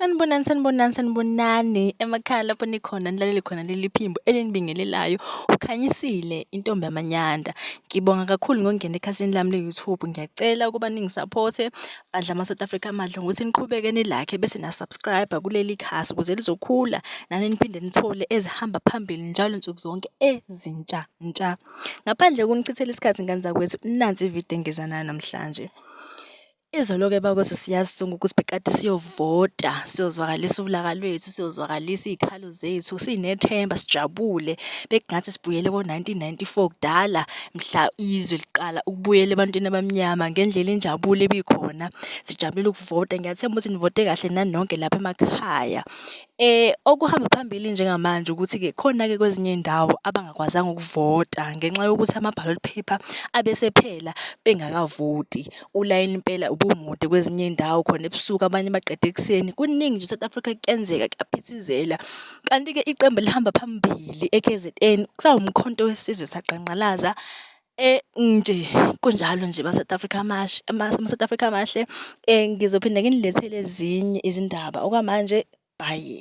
Sanibonani, sanibonani, sanibonani emakhaya lapho nikhona nilalele khona leli phimbo elinibingelelayo. Ukhanyisile intombi yamanyanda. Ngibonga kakhulu ngokungena ekhasini lami le-YouTube. Ngiyacela ukuba ningisaphothe, Bandla ama-South Africa amadla ngokuthi niqhubeke nilakhe bese na-subscribe kuleli khasi ukuze lizokhula nani niphinde nithole ezihamba phambili njalo nsuku zonke ezintsha ntsha. Ngaphandle kunichithela isikhathi ngane zakwethu nansi ividiyo engiza nayo namhlanje. Izolo-ke bakwethu siyazisonga ukuthi bekade siyovota, siyozwakalisa ulaka lwethu, siyozwakalisa iy'khalo. izimpilo zethu sinethemba sijabule bekungathi sibuyele ko-1994 kudala mhla izwe liqala ukubuyela ebantwini abamnyama ngendlela injabulo ebikhona sijabulela ukuvota ngiyathemba ukuthi nivote kahle nanonke lapha emakhaya. Okuhamba phambili njengamanje ukuthi-ke khona-ke kwezinye iy'ndawo abangakwazanga ukuvota ngenxa yokuthi ama-ballot paper abesephela bengakavoti. Ulayini impela ubumude kwezinye iy'ndawo khona ebusuku abanye baqeda ekuseni. Kuningi nje e-South Africa kuyenzeka kuyaphithizela. Kanti-ke iqembu elihamba phambili e-K_Z_N kusawuMkhonto weSizwe Saqangqalaza nje kunjalo nje ama-South Africa amahle ama-South Africa amahle. Ngizophinde nginilethele ezinye izindaba okwamanje bhayi.